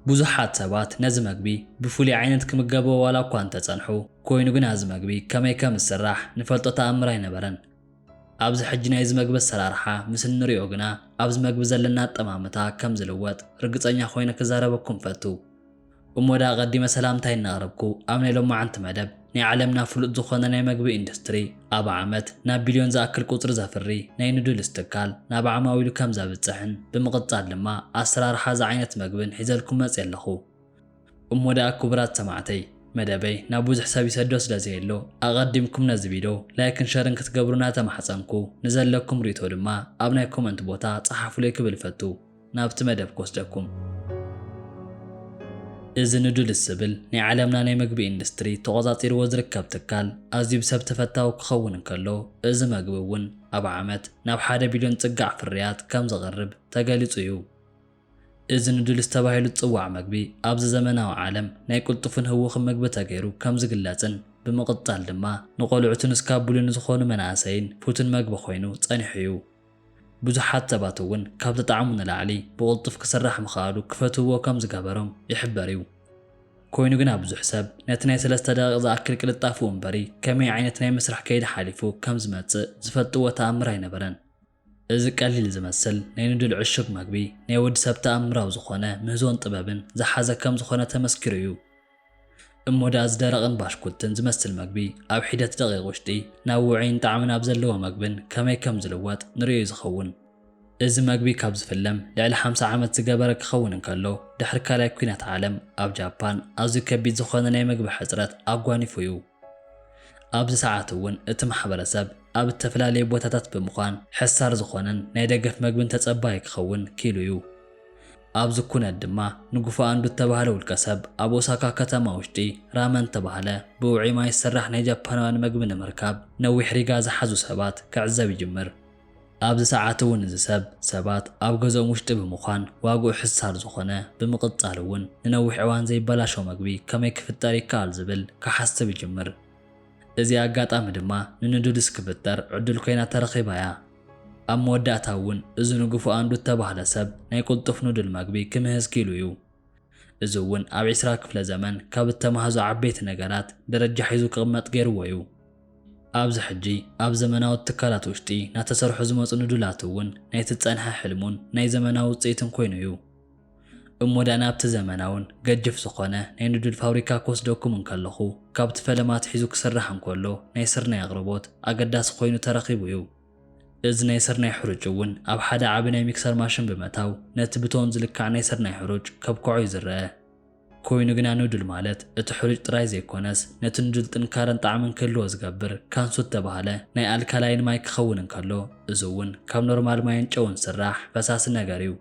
ብዙሓት ሰባት ነዚ መግቢ ብፍሉይ ዓይነት ክምገብዎ ዋላ እኳ እንተ ጸንሑ፣ ኰይኑ ግና እዚ መግቢ ከመይ ከም ዝስራሕ ንፈልጦ ተኣምር ኣይነበረን። ኣብዚ ሕጂ ናይዚ መግቢ ኣሰራርሓ ምስ እንርእዮ ግና ኣብዚ መግቢ ዘለና ኣጠማምታ ከም ዝልወጥ ርግጸኛ ኰይነ ክዛረበኩም እፈቱ። እሞ ደኣ ኣቐዲመ ሰላምታይ እናቕረብኩ፣ ኣብ ናይ ሎማዓንቲ መደብ፣ ናይ ዓለምና ፍሉጥ ዝኾነ ናይ መግቢ ኢንዱስትሪ፣ ኣብ ዓመት ናብ ቢልዮን ዝኣክል ቁጽሪ ዘፍሪ ናይ ኑድልስ ትካል ናብ ዓማዊሉ ከም ዘብጽሕን ብምቕጻል ድማ ኣሰራርሓ እዚ ዓይነት መግብን ሒዘልኩም መጽየ ኣለኹ። እሞ ደኣ ክቡራት ሰማዕተይ፣ መደበይ ናብ ብዙሕ ሰብ ይሰዶ ስለ ዘየሎ፣ ኣቐዲምኩም ነዚ ቪዶ ላይክን ሸርን ክትገብሩ እናተማሕጸንኩ፣ ንዘለኩም ርኢቶ ድማ ኣብ ናይ ኮመንት ቦታ ጸሓፉለይ ክብል እፈቱ። ናብቲ መደብ ክወስደኩም። እዚ ንዱልስ ዝብል ናይ ዓለምና ናይ መግቢ ኢንዱስትሪ ተቖጻጺርዎ ዝርከብ ትካል ኣዝዩ ብሰብ ተፈታዊ ክኸውን እንከሎ፣ እዚ መግቢ እውን ኣብ ዓመት ናብ ሓደ ቢልዮን ጽጋዕ ፍርያት ከም ዘቕርብ ተገሊጹ እዩ። እዚ ንዱልስ ተባሂሉ ዝጽዋዕ መግቢ ኣብዚ ዘመናዊ ዓለም ናይ ቅልጡፍን ህዉኽን መግቢ ተገይሩ ከም ዝግለጽን ብምቕጻል ድማ ንቖልዑትን እስካብ ብሉን ንዝኾኑ መናእሰይን ፍቱን መግቢ ኮይኑ ጸኒሑ እዩ። ብዙሓት ሰባት እውን ካብቲ ጣዕሙ ንላዕሊ ብቕልጡፍ ክስራሕ ምኽኣሉ ክፈትውዎ ከም ዝገበሮም ይሕበር እዩ። ኮይኑ ግና ብዙሕ ሰብ ነቲ ናይ ሰለስተ ደቒቕ ዝኣክል ቅልጣፈኡ እምበሪ ከመይ ዓይነት ናይ ምስራሕ ከይዲ ሓሊፉ ከም ዝመጽእ ዝፈልጥዎ ተኣምር ኣይነበረን። እዚ ቀሊል ዝመስል ናይ ኑድል ዕሹግ መግቢ ናይ ወዲ ሰብ ተኣምራዊ ዝኾነ ምህዞን ጥበብን ዝሓዘ ከም ዝኾነ ተመስኪሩ እዩ። እሞ ደኣ እዚ ደረቕን ባሽኩትን ዝመስል መግቢ ኣብ ሒደት ደቒቕ ውሽጢ ናብ ውዑይን ጣዕሚ ናብ ዘለዎ መግብን ከመይ ከም ዝልወጥ ንርእዮ'ዩ ዝኸውን። እዚ መግቢ ካብ ዝፍለም ልዕሊ ሓምሳ ዓመት ዝገበረ ክኸውን እንከሎ፣ ድሕሪ ካልኣይ ኲናት ዓለም ኣብ ጃፓን ኣዝዩ ከቢድ ዝኾነ ናይ መግቢ ሕጽረት ኣጓኒፉ'ዩ። ኣብዚ ሰዓት እውን እቲ ማሕበረሰብ ኣብ እተፈላለየ ቦታታት ብምዃን ሕሳር ዝኾነን ናይ ደገፍ መግብን ተጸባዪ ክኸውን ክኢሉ እዩ። ኣብዚ ኩነት ድማ ንጉፋ ኣንዱ እተባህለ ውልቀ ሰብ ኣብ ኦሳካ ከተማ ውሽጢ ራመን እተባህለ ብውዑይ ማይ ዝስራሕ ናይ ጃፓናውያን መግቢ ንምርካብ ነዊሕ ሪጋ ዝሓዙ ሰባት ክዕዘብ ይጅምር። ኣብዚ ሰዓት እውን እዚ ሰብ ሰባት ኣብ ገዝኦም ውሽጢ ብምዃን ዋግኡ ሕሳር ዝኾነ ብምቕፃል እውን ንነዊሕ እዋን ዘይበላሾ ምግቢ ከመይ ክፍጠር ይከኣል ዝብል ክሓስብ ይጅምር። እዚኣ ኣጋጣሚ ድማ ንንዱድስ ክፍጠር ዕዱል ኮይና ተረኺባ እያ። ኣብ መወዳእታ እውን እዚ ንጉፉ ኣንዱት ተባህለ ሰብ ናይ ቁልጡፍ ኑድል መግቢ ክምህዝ ክኢሉ እዩ። እዚ እውን ኣብ ዕስራ ክፍለ ዘመን ካብ እተማህዙ ዓበይቲ ነገራት ደረጃ ሒዙ ክቕመጥ ገይርዎ እዩ። ኣብዚ ሕጂ ኣብ ዘመናዊ ትካላት ውሽጢ ናተሰርሑ ዝመጹ ንዱላት እውን ናይቲ ዝጸንሐ ሕልሙን ናይ ዘመናዊ ውጽኢትን ኮይኑ እዩ። እሞ ደኣ ናብቲ ዘመናውን ገጅፍ ዝኾነ ናይ ንዱል ፋብሪካ ክወስደኩም እንከለኹ ካብቲ ፈለማ ኣትሒዙ ክስራሕ እንከሎ ናይ ስርናይ ኣቕርቦት ኣገዳሲ ኮይኑ ተረኺቡ እዩ። እዚ ናይ ስርናይ ሕሩጭ እውን ኣብ ሓደ ዓቢ ናይ ሚክሰር ማሽን ብምእታው ነቲ ብቶን ዝልካዕ ናይ ስርናይ ሕሩጭ ከብክዖ እዩ ዝረኣ። ኮይኑ ግና ኑድል ማለት እቲ ሕሩጭ ጥራይ ዘይኮነስ ነቲ ኑድል ጥንካረን ጣዕምን ክህልዎ ዝገብር ካንሱ እተባህለ ናይ ኣልካላይን ማይ ክኸውን እንከሎ እዚ እውን ካብ ኖርማል ማይን ጨውን ዝስራሕ ፈሳሲ ነገር እዩ።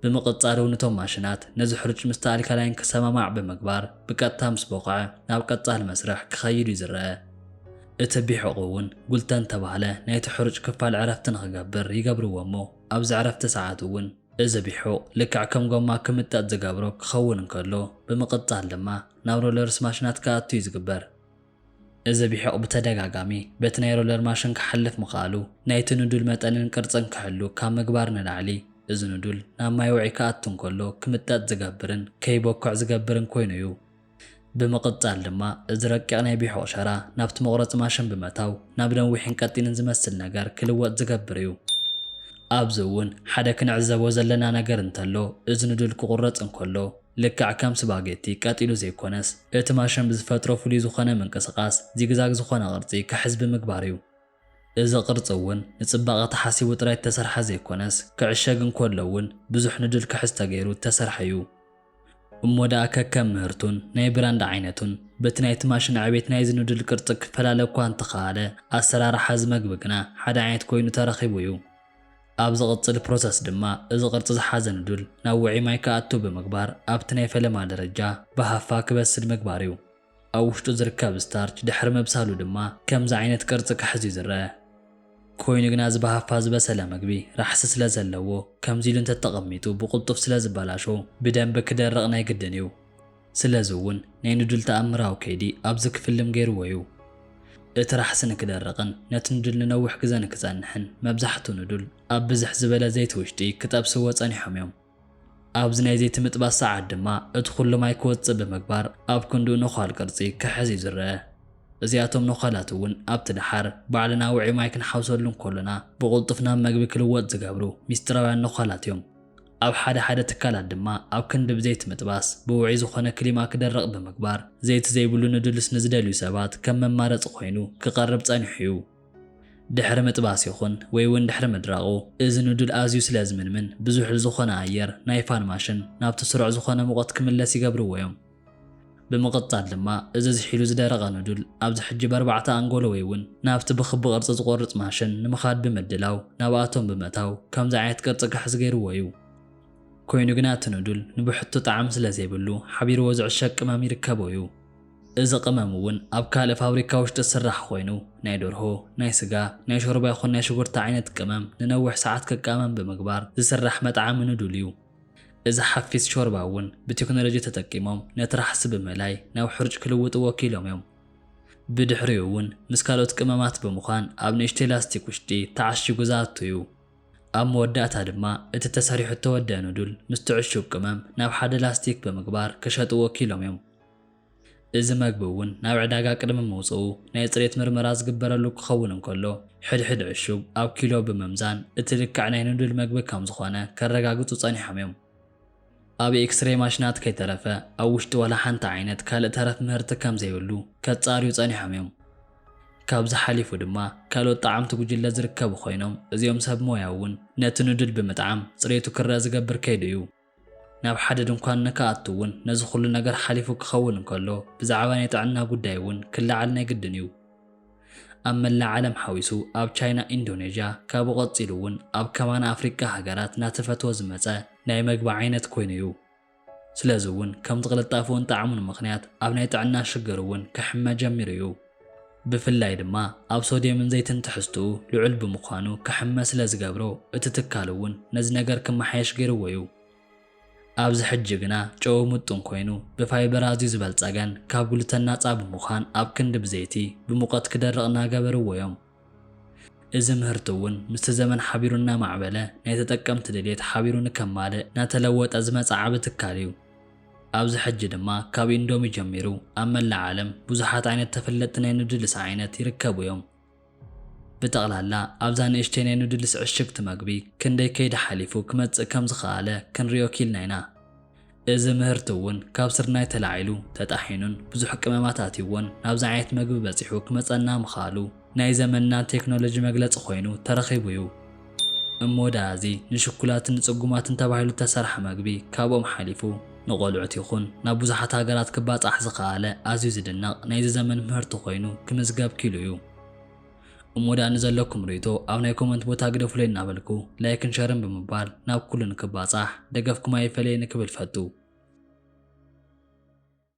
ብምቕጻል እውን እቶም ማሽናት ነዚ ሕሩጭ ምስቲ ኣልካላይን ክሰማማዕ ብምግባር ብቀጥታ ምስ ቦቕዐ ናብ ቀጻሊ መስርሕ ክኸይድ እዩ ዝረኣ። እቲ ቢሑቕ እውን ጉልተን ተባህለ ናይቲ ሕሩጭ ክፋል ዕረፍቲ ንኽገብር ይገብርዎ እሞ ኣብዚ ዕረፍቲ ሰዓት እውን፣ እዚ ቢሑቕ ልክዕ ከም ጎማ ክምጠጥ ዝገብሮ ክኸውን እንከሎ፣ ብምቕጻል ድማ ናብ ሮለርስ ማሽናት ክኣቱ እዩ ዝግበር። እዚ ቢሑቕ ብተደጋጋሚ በቲ ናይ ሮለር ማሽን ክሓልፍ ምኽኣሉ፣ ናይቲ ኑዱል መጠንን ቅርጽን ክሕሉ ካብ ምግባር ንላዕሊ፣ እዚ ኑዱል ናብ ማይ ውዕይ ክኣቱ እንከሎ ክምጠጥ ዝገብርን ከይቦክዕ ዝገብርን ኮይኑ እዩ። ብምቕጻል ድማ እዚ ረቂቕ ናይ ቢሑቕ ሸራ ናብቲ መቑረጺ ማሽን ብምእታው ናብ ነዊሕን ቀጢንን ዝመስል ነገር ክልወጥ ዝገብር እዩ። ኣብዚ እውን ሓደ ክንዕዘቦ ዘለና ነገር እንተሎ እዚ ኑዱል ክቑረጽ እንከሎ፣ ልክዕ ከም ስፓጌቲ ቀጥ ኢሉ ዘይኮነስ፣ እቲ ማሸን ብዝፈጥሮ ፍሉይ ዝኾነ ምንቅስቓስ ዚግዛግ ዝኾነ ቅርጺ ክሕዝ ብምግባር እዩ። እዚ ቅርጺ እውን ንጽባቐ ተሓሲቡ ጥራይ እተሰርሐ ዘይኮነስ፣ ክዕሸግ እንከሎ እውን ብዙሕ ንድል ክሕዝ ተገይሩ እተሰርሐ እዩ። እሞ ደኣ ከከም ምህርቱን ናይ ብራንድ ዓይነቱን በቲ ናይቲ ማሽን ዕቤት ናይዚ ንድል ቅርጺ ክፈላለ እኳ እንተኸኣለ፣ ኣሰራርሓ እዚ መግቢ ግና ሓደ ዓይነት ኮይኑ ተረኺቡ እዩ። ኣብ ዝቕጽል ፕሮሰስ ድማ እዚ ቅርጺ ዝሓዘ ንዱል ናብ ውዑይ ማይ ክኣቱ ብምግባር ኣብቲ ናይ ፈለማ ደረጃ ብሃፋ ክበስል ምግባር እዩ። ኣብ ውሽጡ ዝርከብ ስታርች ድሕሪ ምብሳሉ ድማ ከምዚ ዓይነት ቅርጺ ክሕዝ እዩ ዝረኣ። ኮይኑ ግና እዚ ብሃፋ ዝበሰለ ምግቢ ራሕሲ ስለ ዘለዎ ከምዚ ኢሉ እንተተቐሚጡ ብቕልጡፍ ስለ ዝበላሾ ብደንቢ ክደርቕ ናይ ግድን እዩ። ስለዚ እውን ናይ ንዱል ተኣምራዊ ከይዲ ኣብዚ ክፍልም ገይርዎ እዩ። እቲ ራሕሲ ንክደርቕን ነቲ ንዱል ንነዊሕ ግዘ ንክፀንሕን መብዛሕቱ ንዱል ኣብ ብዝሕ ዝበለ ዘይቲ ውሽጢ ክጠብስዎ ፀኒሖም እዮም። ኣብዚ ናይ ዘይቲ ምጥባስ ሰዓት ድማ እቲ ኩሉ ማይ ክወፅእ ብምግባር ኣብ ክንድኡ ነዃል ቅርፂ ክሕዝ እዩ ዝረኣ። እዚኣቶም ነዃላት እውን ኣብቲ ደሓር ባዕልና ውዑይ ማይ ክንሓውሰሉ እንከሎና ብቕልጡፍ ናብ መግቢ ክልወጥ ዝገብሩ ሚስጢራውያን ነዃላት እዮም። ኣብ ሓደ ሓደ ትካላት ድማ ኣብ ክንዲ ብዘይቲ ምጥባስ፣ ብውዑይ ዝኾነ ክሊማ ክደርቕ ብምግባር፣ ዘይቲ ዘይብሉ ኑድልስ ንዝደልዩ ሰባት ከም መማረፂ ኮይኑ ክቐርብ ፀኒሑ እዩ። ድሕሪ ምጥባስ ይኹን ወይ እውን ድሕሪ ምድራቑ፣ እዚ ኑድል ኣዝዩ ስለ ዝምንምን ብዙሕ ዝኾነ ኣየር ናይ ፋን ማሽን ናብቲ ስሩዕ ዝኾነ ሙቐት ክምለስ ይገብርዎ እዮም። ብምቕጻል ድማ እዚ ዝሒሉ ዝደረቐ ኖዱል ኣብዚ ሕጂ በርባዕተ ኣንጎሎ ወይ ውን ናብቲ ብክቢ ቅርጺ ዝቖርጽ ማሽን ንምኻድ ብምድላው ናብ ኣቶም ብምእታው ከምዚ ዓይነት ቅርጺ ክሕዝ ገይርዎ እዩ። ኮይኑ ግና እቲ ኖዱል ንብሕቱ ጣዕሚ ስለ ዘይብሉ ሓቢርዎ ዝዕሸግ ቅመም ይርከቦ እዩ። እዚ ቅመም ውን ኣብ ካልእ ፋብሪካ ውሽጢ ዝስራሕ ኮይኑ ናይ ደርሆ፣ ናይ ስጋ፣ ናይ ሾርባ ይኹን ናይ ሽጉርቲ ዓይነት ቅመም ንነዊሕ ሰዓት ክቃመም ብምግባር ዝስራሕ መጥዓሚ ኖዱል እዩ። እዚ ሓፊስ ሾርባ እውን ብቴክኖሎጂ ተጠቂሞም ነቲ ራሕሲ ብምእላይ ናብ ሕሩጭ ክልውጥዎ ወኪሎም እዮም። ብድሕሪኡ እውን ምስ ካልኦት ቅመማት ብምዃን ኣብ ንእሽተይ ላስቲክ ውሽጢ ተዓሺጉ ዝኣቱ እዩ። ኣብ መወዳእታ ድማ እቲ ተሰሪሑ እተወደኣ ኑዱል ምስቲ ዕሹግ ቅመም ናብ ሓደ ላስቲክ ብምግባር ክሸጥዎ ወኪሎም እዮም። እዚ መግቢ እውን ናብ ዕዳጋ ቅድሚ ምውጽኡ ናይ ጽሬት ምርመራ ዝግበረሉ ክኸውን እንከሎ፣ ሕድሕድ ዕሹግ ኣብ ኪሎ ብምምዛን እቲ ልክዕ ናይ ንዱል መግቢ ከም ዝኾነ ከረጋግጹ ጸኒሖም እዮም። ኣብ ኤክስሬይ ማሽናት ከይተረፈ ኣብ ውሽጢ ዋላ ሓንቲ ዓይነት ካልእ ተረፍ ምህርቲ ከም ዘይህሉ ከጻርዩ ጸኒሖም እዮም። ካብዚ ሓሊፉ ድማ ካልኦት ጠዓምቲ ጉጅለ ዝርከቡ ኮይኖም እዚኦም ሰብ ሞያ እውን ነቲ ንዱል ብምጥዓም ጽሬቱ ክረኣ ዝገብር ከይዲ እዩ። ናብ ሓደ ድንኳን ንክኣቱ እውን ነዚ ኹሉ ነገር ሓሊፉ ክኸውን እንከሎ ብዛዕባ ናይ ጥዕና ጉዳይ እውን ክለዓል ናይ ግድን እዩ። ኣብ መላእ ዓለም ሓዊሱ ኣብ ቻይና ኢንዶኔዥያ ካብኡ ቀፂሉ እውን ኣብ ከማና ኣፍሪቃ ሃገራት ናተፈትወ ዝመፀ ናይ መግቢ ዓይነት ኮይኑ እዩ። ስለዚ እውን ከምቲ ቅልጣፈኡን ጣዕሙን ምኽንያት ኣብ ናይ ጥዕና ሽግር እውን ክሕመ ጀሚሩ እዩ። ብፍላይ ድማ ኣብ ሶድየምን ዘይትን ትሕዝትኡ ልዑል ብምዃኑ ክሕመ ስለ ዝገብሮ እቲ ትካል እውን ነዚ ነገር ክመሓየሽ ገይርዎ እዩ። ኣብዚ ሕጂ ግና ጨዉ ምጡን ኮይኑ ብፋይበር ኣዝዩ ዝበልፀገን ካብ ግሉተን ናፃ ብምዃን ኣብ ክንዲ ብዘይቲ ብሙቐት ክደርቕ እናገበርዎ እዮም። እዚ ምህርቲ እውን ምስቲ ዘመን ሓቢሩ እናማዕበለ ናይ ተጠቀምቲ ድልየት ሓቢሩ ንከማልእ እናተለወጠ ዝመፀ ዓቢ ትካል እዩ። ኣብዚ ሕጂ ድማ ካብ ኢንዶሚ ጀሚሩ ኣብ መላእ ዓለም ብዙሓት ዓይነት ተፈለጥቲ ናይ ኑድልስ ዓይነት ይርከቡ እዮም። ብጠቕላላ ኣብዛ ንእሽተይ ናይ ኑድልስ ዕሽግቲ መግቢ ክንደይ ከይዲ ሓሊፉ ክመፅእ ከምዝኸኣለ ክንሪኦ ኪኢልና ኢና። እዚ ምህርቲ እውን ካብ ስርናይ ተላዒሉ ተጣሒኑን ብዙሕ ቅመማት ኣትዩዎን ናብዚ ዓይነት መግቢ በፂሑ ክመፀና ምኽኣሉ ናይ ዘመንና ቴክኖሎጂ መግለፂ ኮይኑ ተረኺቡ እዩ። እሞ ደኣ እዚ ንሽኩላትን ንፅጉማትን ተባሂሉ ዝተሰርሐ መግቢ ካብኦም ሓሊፉ ንቖልዑት ይኹን ናብ ብዙሓት ሃገራት ክባፃሕ ዝኸኣለ ኣዝዩ ዝድነቕ ናይዚ ዘመን ምህርቲ ኮይኑ ክምዝገብ ክኢሉ እዩ። እሞ ድኣ ንዘለኩም ርእይቶ ኣብ ናይ ኮመንት ቦታ ግደፉለይ እናበልኩ ላይክን ሸርን ብምባል ናብ ኩሉ ንክባጻሕ ደገፍኩም ኣይፈለየኒ ክብል ፈቱ።